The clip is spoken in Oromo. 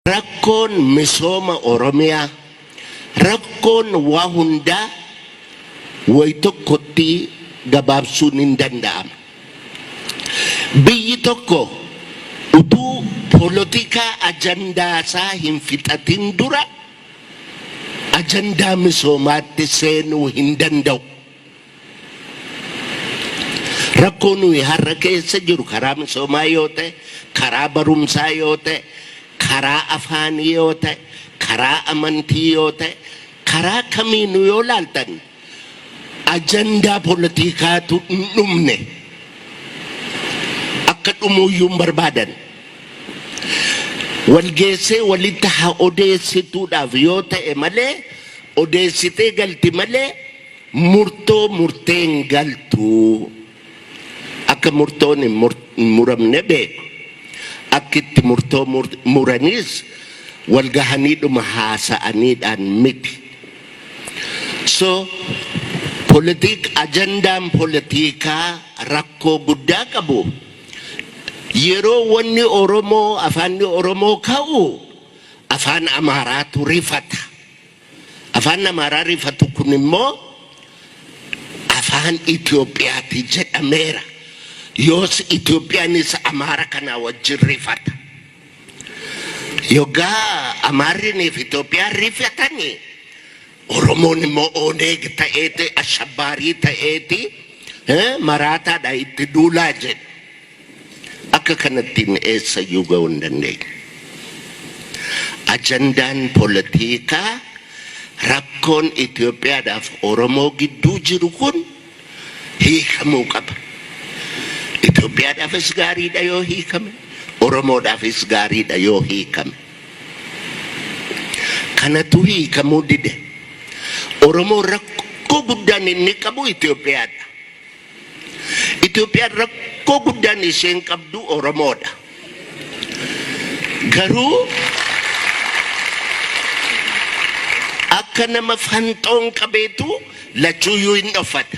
Rakkoon misooma Oromiyaa rakkoon waa hundaa way tokkotti gabaabsuun hin danda'ama. Biyyi tokko utuu polotikaa ajandaa isaa hin fixatin dura ajandaa misoomaatti seenuu hin danda'u. Rakkoo nuyi har'a keessa jiru karaa misoomaa yoo ta'e, karaa barumsaa yoo ta'e, karaa afaanii yoo ta'e, karaa amantii yoo ta'e, karaa kamiinuu yoo ilaaltan ajandaa politikaatu hin dhumne. Akka dhumuuyyuu hin barbaadan. Wal geessee walitti haa odeessituudhaaf yoo ta'e malee, odeessitee galti malee Murtoo murteen galtu akka murtoon hin muramne beeku. Akki itti murtoo muraniis wal gahaniidhuma haasa'aniidhaan miti. So politik ajandaan politikaa rakkoo guddaa qabu yeroo wanni Oromoo afaanni Oromoo ka'u afaan Amaaraatu rifata. Afaan Amaaraa rifatu kun immoo Afaan Itoophiyaati jedhameera. Yoos Itoophiyaanis Amaara kanaa wajjin rifata. Yoggaa Amaarrinii fi Itoophiyaan rifatani Oromoon immoo Oneeg ta'eeti, ashabbaarii ta'eeti, maraataadha itti duulaa jedhu. Akka kanattiin eessayyuu ga'uu hin dandeenyu. Ajandaan polotiikaa rakkoon Itoophiyaadhaaf Oromoo gidduu jiru kun hiikamuu qaba. Itoophiyaadhaafis gaariidha yoo hiikame, Oromoodhaafis gaariidha yoo hiikame. Kanatu hiikamuu dide. Oromoon rakkoo guddaan inni qabu Itoophiyaadha. Itoophiyaan rakkoo guddaan isheen qabdu Oromoodha. Garuu akka nama fanxoon qabeetu lachuuyyuu hin dhoffata.